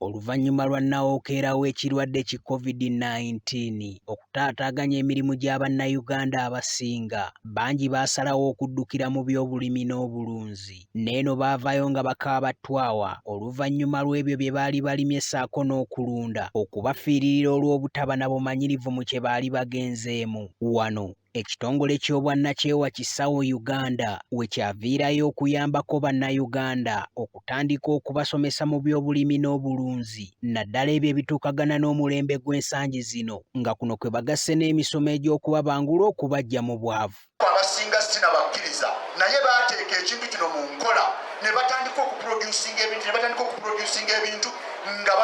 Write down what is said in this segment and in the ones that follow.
Oluvannyuma lwa nnawookeera w'ekirwadde ki COVID-19 okutaataaganya emirimu gya Bannayuganda abasinga, bangi baasalawo okuddukira mu byobulimi n'obulunzi. N'eno baavaayo nga bakaaba ttwawa oluvannyuma lw'ebyo bye baali balimye ssaako n'okulunda okubafiiririra olw'obutaba na bumanyirivu mu kye baali bagenzeemu. Wano ekitongole ky'obwannakyewa kisawo Uganda we kyaviirayo okuyambako Bannayuganda okutandika okubasomesa mu byobulimi n'obulunzi naddala ebyo ebituukagana n'omulembe gw'ensangi zino nga kuno kwe bagasse n'emisomo egy'okubabangula okubaggya mu bwavu. Abasinga si na bakkiriza naye baateeka ekintu kino mu nkola ne batandika okuproducinga ebintu ne batandika okuproducinga ebintu nga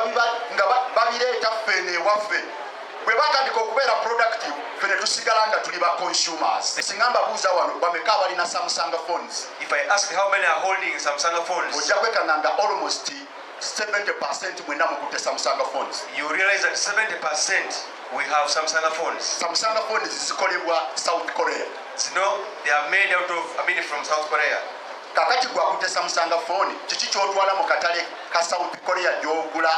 babireeta ffe eno ewaffe bwe batandika okubeera productive ffe ne tusigala nga tuli ba consumers singa mbabuuza wano bameka abalina samsung phones if i ask how many are holding samsung phones ojja kwekanga nga almost 70 percent mwena mukutte samsung phones you realize that 70 percent we have samsung phones samsung phones zikolebwa south korea zino they are made out of i mean from south korea Kakati gwe akutte Samusanga fooni, kiki ky'otwala mu katale ka South Korea gy'ogula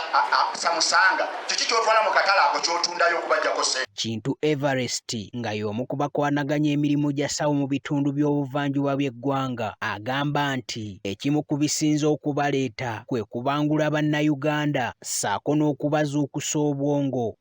Samusanga? Kiki ky'otwala mu katale ako ky'otundayo okubajjako ssente? Kintu Everest nga y'omu ku bakwanaganya emirimu gya ssawo mu bitundu by'obuvanjuba by'eggwanga agamba nti ekimu ku bisinze okubaleeta kwe kubangula Bannayuganda ssaako n'okubazuukusa obwongo